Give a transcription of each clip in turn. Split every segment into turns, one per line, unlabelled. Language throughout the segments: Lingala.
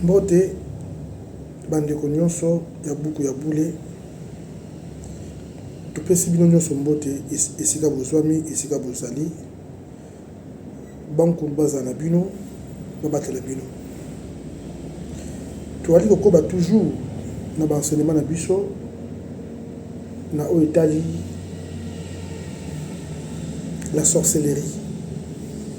Mbote bandeko nyonso ya buku ya bule. Topesi bino nyonso mbote esika bozwami, esika bozali. Bankulu bazala na bino, babatela bino. Toyali kokoba toujours na baenseignement na biso na oyo etali la sorcellerie.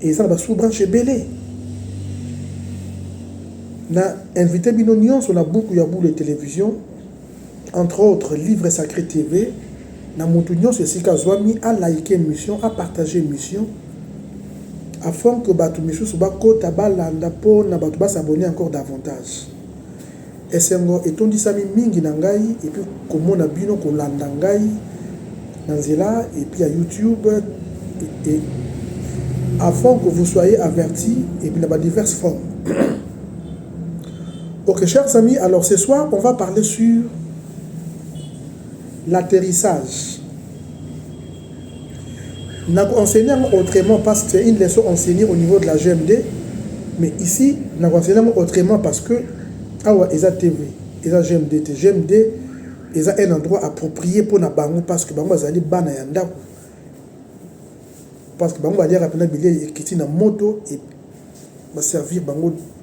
Eza na ba sous branche ebele. Na invite bino nionso na buku ya bule television entre autres livre sacre TV na mutu nionso esika azwami a like emission a partage emission afin que batu misusu bakota balanda po na batu ba s'abonner encore davantage. Esengo etondisami mingi na ngai epuis komona bino kolanda ngai na nzela epuis ya youtube et avant que vous soyez averti epuis na ba diverses formes ok chers amis alors ce soir on va parler sur l'atterrissage Na ko enseigner yango autrement parce que c'est une leçon enseignee au niveau de la GMD mais ici na ko enseigner yango autrement parce que awa eza TV eza GMD te GMD eza un endroit approprié mpo na bango parce que bango bazali bana ya ndako parce que bango baliaka mpena bilei ekiti na moto et ba servir bango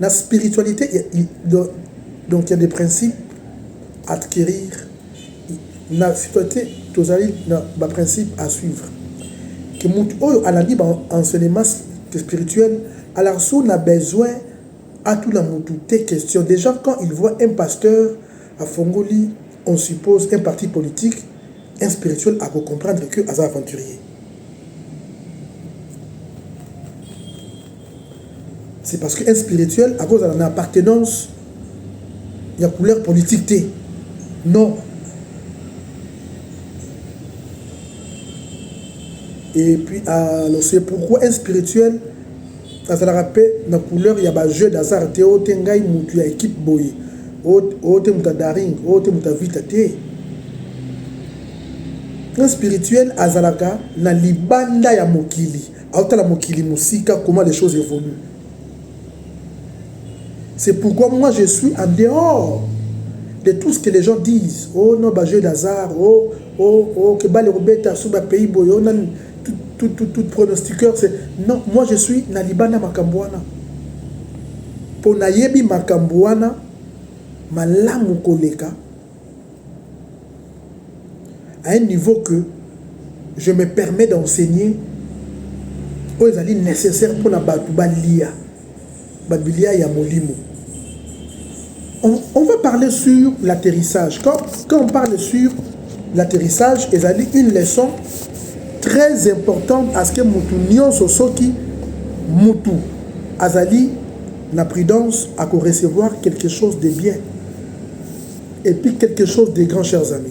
na spiritualite ya donc ya des principes à acquérir na spiritualite tozali na ba principes à suivre que mutu oyo alandi ba enseignement spirituel alors sous na besoin atuna mutu te question déjà quand il voit un pasteur afongoli on suppose un parti politique un spirituel ako comprendre que aza aventurier C'est parce que un spirituel à cause de la appartenance il y a couleur politique te. Non. Et puis alors c'est pourquoi un spirituel azalaka mpe na couleur ya bajeu d'hasard te oyo te ngai motu ya équipe boye oyo te moto ya daring oyo te moto ya vita te un spirituel azalaka na libanda ya mokili aotala mokili mosika comment les choses évoluent c'est pourquoi moi je suis en dehors de tout ce que les gens disent oh non bajeu d'hasard oh oh oh que bale kobeta sur bapays boye oh nani tout, tout, tout, tout pronostiqueur c'est non moi je suis na libanda makambo wana mpo nayebi makambo wana malamu koleka à un niveau que je me permets d'enseigner oyo ezali nécessaire mpo na bato balia babilia ya molimo on, on va parler sur l'atterrissage quand, quand on parle sur l'atterrissage ezali une leçon très importante à ce que motu nyonso soki motu azali na prudence ako recevoir quelque chose de bien Et puis quelque chose de grand, chers amis.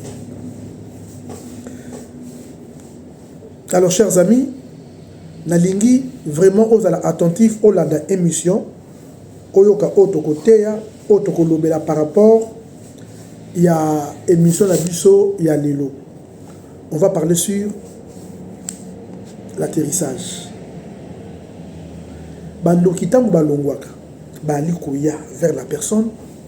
Alors, chers amis, nalingi vraiment ozala attentif olanda émission oyoka oyo tokoteya oyo tokolobela par rapport ya émission na biso ya lelo on va parler sur l'atterrissage bandoki ntango balongwaka baali koya vers la personne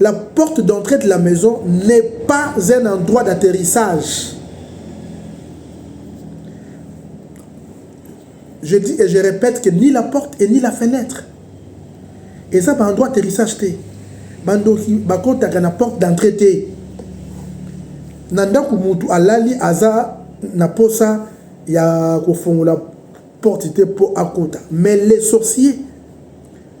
La porte d'entrée de la maison n'est pas un endroit d'atterrissage. Je dis et je répète que ni la porte et ni la fenêtre. Et ça, par endroit d'atterrissage, bandoki bakotaka na porte d'entrée te na ndako mutu alali aza na posa ya kofongola porte te mpo akota mais les sorciers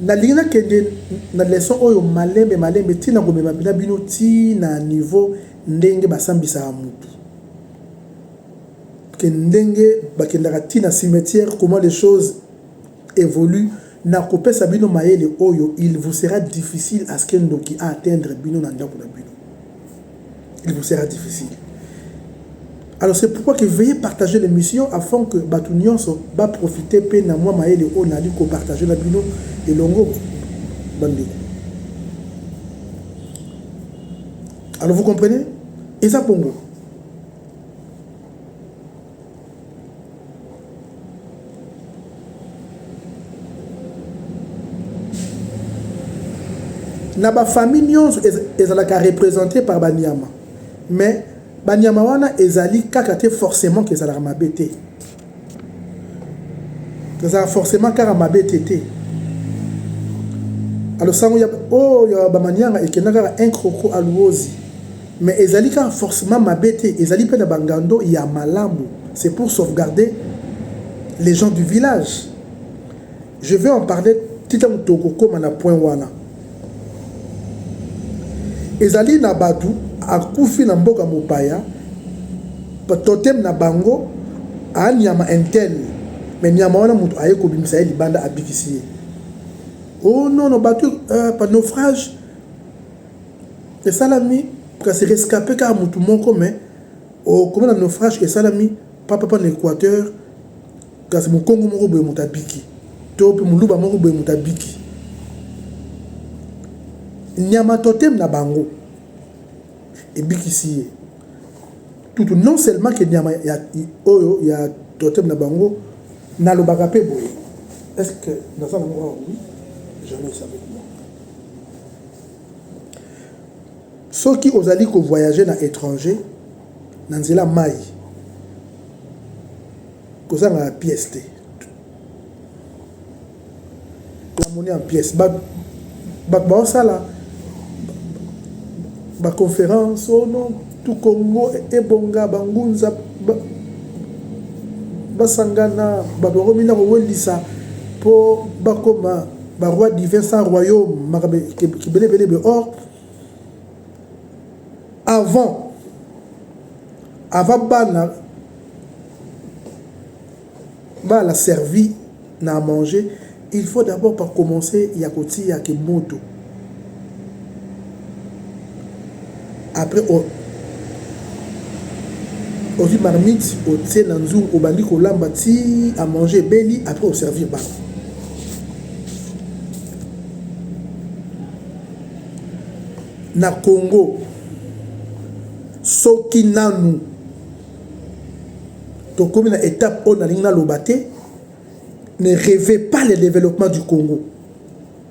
Nalingi na kende na leçon oyo malembe malembe ti na komema na bino ti na niveau ndenge ba sambisaka mutu ke ndenge bakendaka ti na cimetière comment les choses evoluent na kopesa bino mayele oyo il vous sera difficile à ce que ndoki a atteindre bino na ndaku na bino. il vous sera difficile alors c'est pourquoi que veuillez partager l'émission afin que bato nyonso ba profite mpe na mwa mayele oyo nali kopartage na bino elongo bandeko alors vous comprenez eza bongo na bafamille nyonso ezalaka représente par banyama mais banyama wana ezali kaka te forcément ke ezalaka mabe te ezalaka forcément kaka mabe te te alosango ya oyo oh, ya bamanianga ekenda kaka un croco aluozi Mais ezali kaka forcement mabe te, ezali pe na ba ngando ya malamu, c'est pour sauvegarder les gens du village. Je vais en parler ti tango tokokoma na point wana. Ezali na batu akufi na mboka mopaya, totem na bango a nyama intel, mais nyama wana mutu aye kobimisa ye libanda abikisi ye. Oh non non batu euh, pa naufrage esalami kasi rescape kaka mutu moko mais okomi na naufrage esalami pa papa na equateur kasi mukongo moko boye mutu abiki to pe muluba moko boye mutu abiki nyama totem na bango ebikisi ye tutu non seulement ke nyama ya oyo ya totem na bango nalobaka pe boye est ce que naza na mwa oui jamais esabe Soki ozali ko voyager na etranger na nzela mayi kozanga na pièce te. La monnaie en pièce ba bato baosala ba conference oh non tout Congo ebonga ba ngunza ba, basangana bato bakomi na kowelisa mpo bakoma Ba rois divins sans royaume makabe kibele bele be or avant avant bana bala servi na manger il faut d'abord par commencer ya kotia ke moto après ozui marmite otie na nzungu obandi kolamba ti à manger ebeli après au servir ba na Congo soki nanu tokomi na étape oyo nalingi naloba te ne rêvez pas le développement du Congo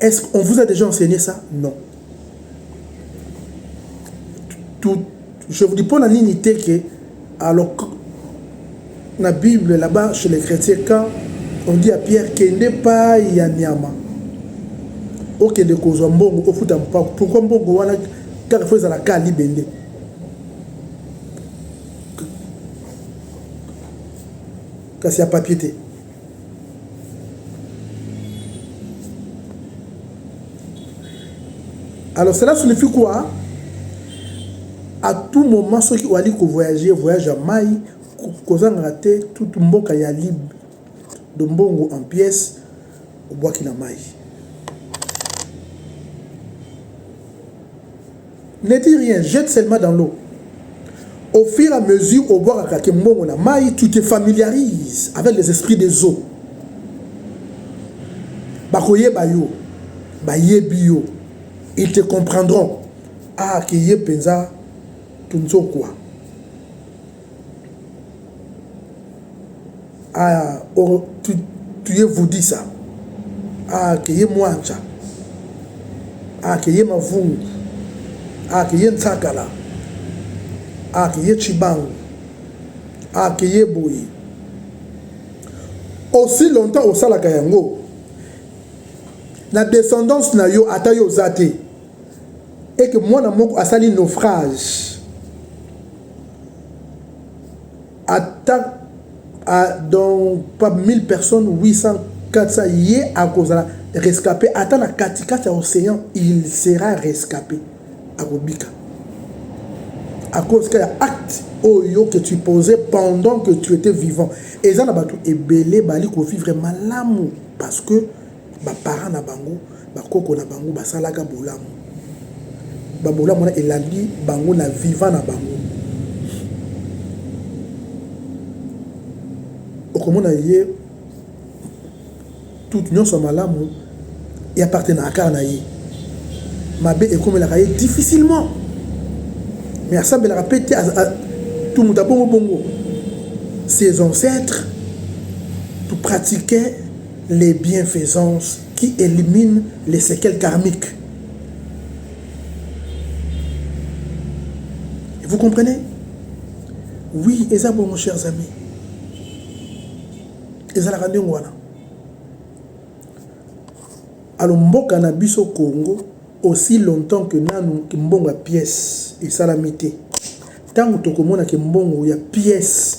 Est ce qu'on vous a dejà enseigner ça? Non. Tout, je vous dis pas la ligne que alors la Bible là-bas chez les chrétiens quand on dit à Pierre qu'il n'est pas Yanyama okende kozwa mbongo ofuta mpako pourkui mbongo wana kaka fo ezala ka libende kasi ya papier te Alors cela signifie quoi À tout moment soki oali ko voyager voyage ya mai kozangaka te toute mboka ya lib de mbongo en pièce obwaki na mai Ne dit rien jette seulement dans l'eau au fur à mesure obwakaka ke mbongo na mayi tu te familiarise avec les esprits des eaux bakoyeba yo bayebi yo ils te comprendront ah ke ye penza tunzokwa Ah, oh, tu, tu es Voudissa. Ah, que ye Mwancha. Ah, que ye Mavungu. Ah, que ye Ntsakala. Ah, que ye Chibangu. Ah, que ye Boye. Aussi longtemps osalaka yango, na descendance na yo ata yo oza te et que mwana moko asali naufrage ata donc pa 1000 personnes 800 400 ye akozala rescape ata na katikati ya océan il sera rescape akobika à cause que ya acte oyo que tu posais pendant que tu étais vivant eza na bato ebele bali kovivre malamu parce que ba parents na bango ba koko na bango basalaka bolamu ba bolamu wana elandi bango na vivant na bango okomona ye tout nyonso ya malamu e appartenaka kaka na ye mabe ekomelaka ye difficilement mais asambelaka mpe te tout moto abongo bongo ses ancêtres tout pratiquaient les bienfaisances qui elimine les sequelles karmiques vous comprenez oui eza bongo chers amis ezalaka ndenge wana alo mboka na biso congo aussi longtemps que nanu kimbongo ya pièce esalami te ntango tokomona kimbongo ya pièce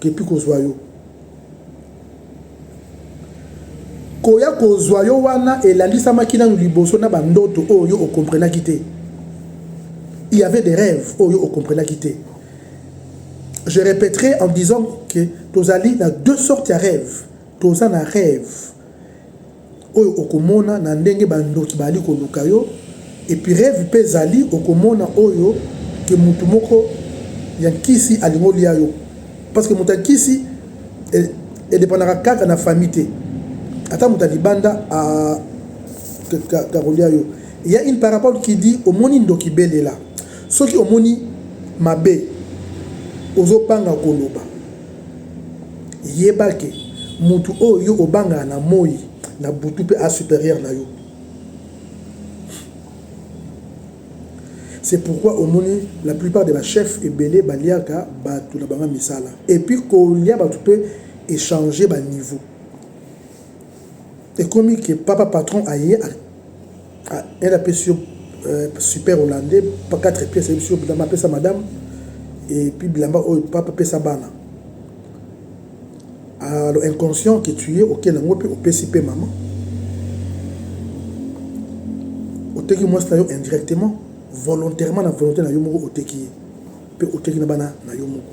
Kepi kozwa yo. Koya kozwa yo wana elandisamaki nanu liboso na ba ndoto oyo yo o comprenaki te. Il y avait des rêves oyo yo o comprenaki te. Je répéterai en disant que tozali na deux sortes ya rêves. Toza na rêve oyo okomona na ndenge ba ndoki baali koluka yo epirevi pe ezali okomona oyo ke mutu moko ya nkisi alingi olia yo parce que mutu ya nkisi edependaka kaka na famille te ata mutu ya libanda a ka kolia yo il ya une parabole qui dit omoni ndoki belela soki omoni mabe ozo banga koloba Yeba que mutu oyo yo obangaka na moyi na butu pe a superieur na yo. C'est pourquoi omoni la plupart de ba chefs ebele baliaka batu na banga misala et puis kolia batu pe echanger ba niveau. Ekomi que papa patron aye elle apesi yo super hollandais pa 4 pièces ayebisi yo bilamba apesa madame et puis bilamba oyo papa apesa bana alors inconscient que tu es oke na ngo pe opesi pe maman oteki mwasi na yo indirectement volontairement na volonté na yo moko oteki ye pe oteki na bana na yo moko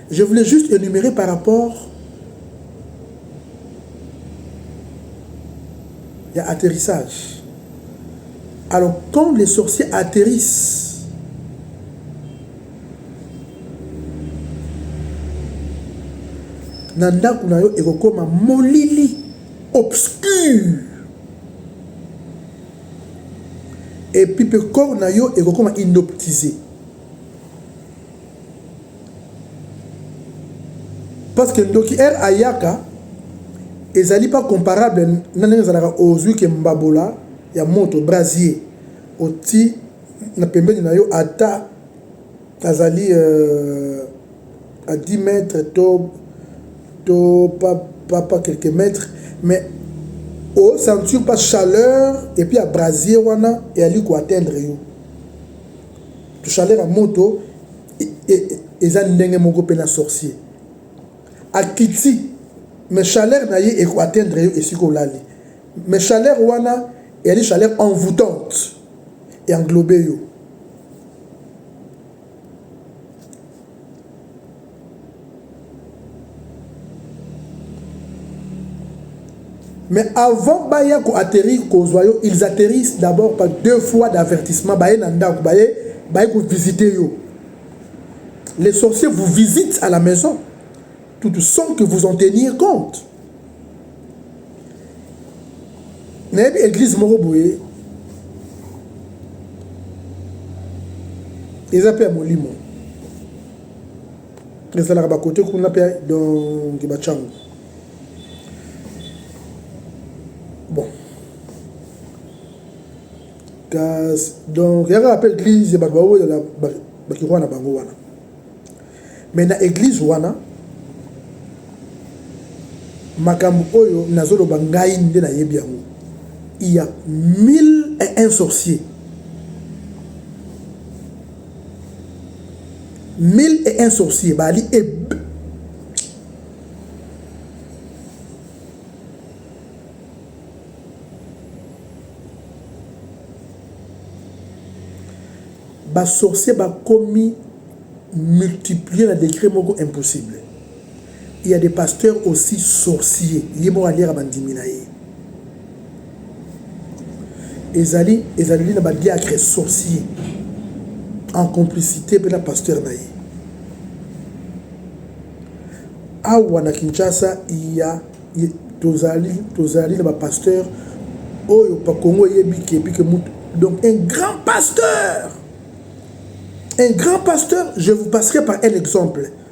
Je voulais juste énumérer par rapport Il y a atterrissage. Alors, quand les sorciers atterrissent, na ndako na yo ekokoma molili obscur epuis mpe corps na yo ekokoma inoptise parce que ndoki heure ayaka ezali pas comparable na ndenge ezalaka ozwi ke mbabola ya moto brasier oti na pembeni na yo ata azali euh, à 10 mètres to to pas, pas, pas quelques mètres mais au sentir pas chaleur et puis à brasier wana et ali ko atteindre yo to chaleur ya moto eza ndenge moko pe na sorcier akiti mais chaleur na ye eko atteindre yo esika olali mais chaleur wana eyali chaleur envoûtante e englobe yo Mais avant baya ko atterrir kozwa yo, ils atterrissent d'abord par deux fois d'avertissement baye na ndako baye baye ko visiter yo. Les sorciers vous visitent à la maison tout sans que vous en teniez compte. nayebi église moko boye eza mpe ya molimo Ezalaka ba cote kuna pe donc ba chango. Bon. Kasi donc yaka appel église ya bato baolela bakikoka na bango wana. Mais na église wana makambo oyo nazoloba ngai nde nayebi yango il y a mille et un sorciers Mille et un sorciers bali eb ba sorciers bakomi multiplier na degre moko impossible. il ya des pasteurs aussi sorciers ye moko aliaka bandimi na ye ezali ezaleli na ba diacre sorcier en complicité mpe na pasteur na ye awa na kinshasa iya tozali tozali na bapasteur oyo bakongo eyebi ke epi ke mutu donc un grand pasteur un grand pasteur je vous passerai par un exemple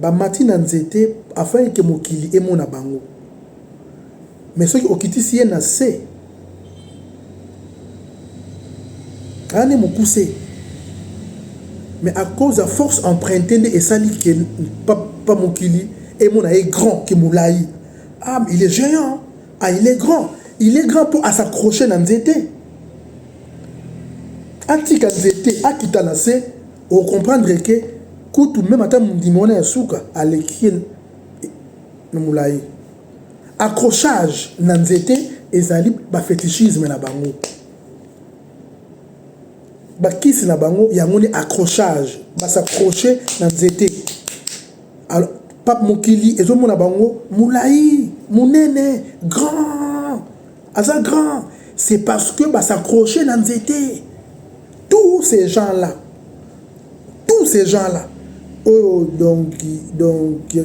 bamati na nzete afin que mokili emona bango mais soki okitisi ye na se aya nde mukuse mais à cause ya force emprunte nde esali que pa mokili emona ye grand que mulayi ah il est geant ah il est grand il est grand po a s'accrocher na nzete atika nzete akita na se O comprendre que kutu meme ata mundimi wana ya suka aleki ye na mulayi. Accrochage na nzete ezali ba fetichisme na bango. Ba kisi na bango yango nde accrochage. Ba s'accrocher na nzete. Alors pape mokili ezo mona bango mulayi, munene, grand. Aza grand. C'est parce que ba s'accrocher na nzete. Tous ces gens là, tous ces gens là, oh donc donc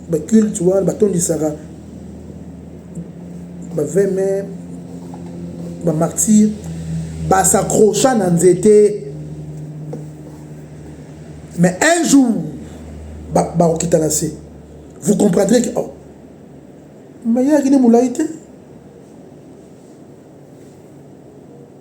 ba culte wana batondisaka ba 20 mai ba martyr basakrocha na nzete mais un jour bakokita na se vous comprendrez que oh, mayaki nde molai te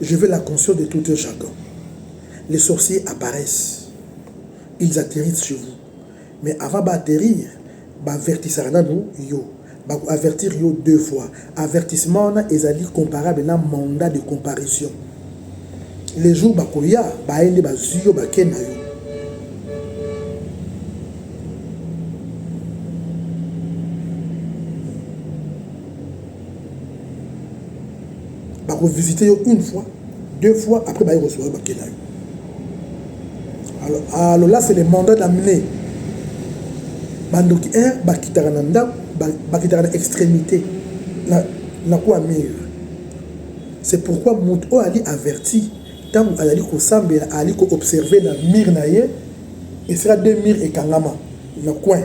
Je veux la conscience de tout un chacun. Les sorciers apparaissent. Ils atterrissent chez vous. Mais avant d'atterrir, bavertisaka nanu yo. Bako avertir yo deux fois. Avertissement wana ezali comparable na mandat de comparution. Les jours bakoya, baye nde bazwi yo bake na yo. bako visiter yo une fois deux fois après baye kosola bakela yo alors ah, alors là c'est le mandat d'amener bandoki un bakitaka na ndako bakitaka na extrémité na, na kwa mire c'est pourquoi moto oyo ali averti ntango azali kosambela azali koobserve na mire na ye esika deux mire ekangama na coin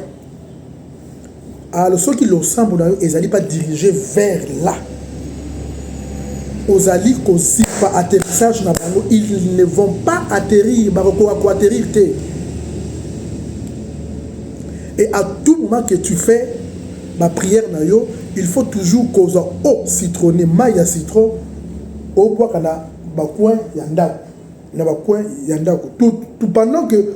Alo soki losambo na yo ezali pas dirige vers là ozali kozipa atterrissage na bango ils ne vont pas atterrir bakokoka koatterrir te et à tout moment que tu fais baprière na yo il faut toujours kozwa o citrone mai ya citron obwaka na bacoin ya ndako na bacoin ya ndako tout, tout pendant que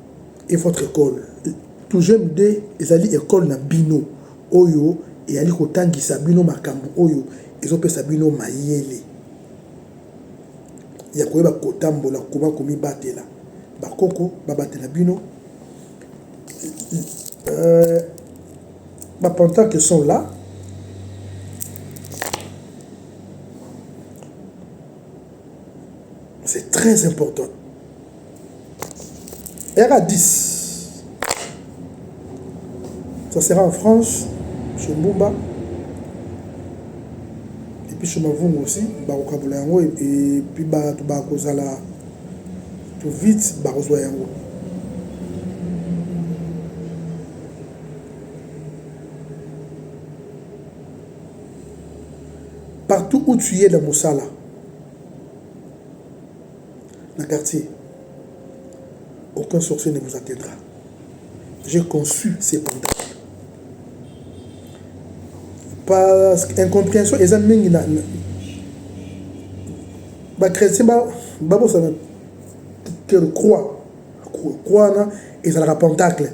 et votre ecole tougem de ezali ecole na bino oyo eyali kotangisa bino makambo oyo ezopesa bino mayele ya koyeba kotambola koma komibatela bakoko babatela bino euh, bapantarke sont là c'est très important Yaka 10. Ça sera en France, chez Mbumba. Et puis chez Mavungu aussi, bakokabola yango et puis bato bakozala tout vite bakozwa yango. Partout où tu es dans Moussala, na quartier aucun sorcier ne vous atteindra j'ai conçu ce pantalon parce que incomprehension eza mingi na ba chrétien babosana que croix Kwana ezalaka pentacle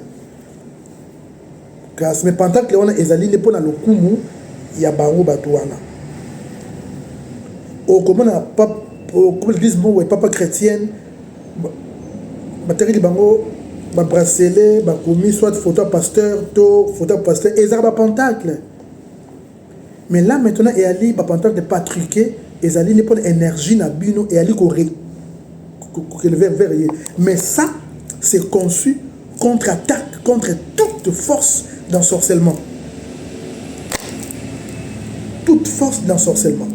classe mais pentacle wana ezali nde mpo na lokumu ya bango bato wana okomona okoma eglise moko papa chrétienne batekeli bango babrasele bakomi soit photo ya pasteur to photo ya pasteur ezalaka bapentacle Mais là maintenant eyali ba pantalon de patrique ezali nde pona energie na bino eyali ko re kokeleve vers ye mais ça c'est conçu contre attaque contre toute force d'ensorcellement toute force d'ensorcellement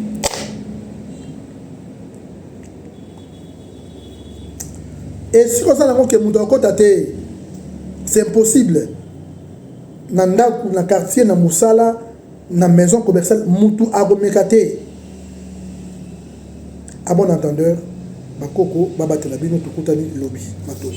esika oza nango ke moto akota te c'est impossible na ndaku na quartier na musala na maison commerciale mutu akomeka te à bon entendeur bakoko babatela bino tokutani lobi matoko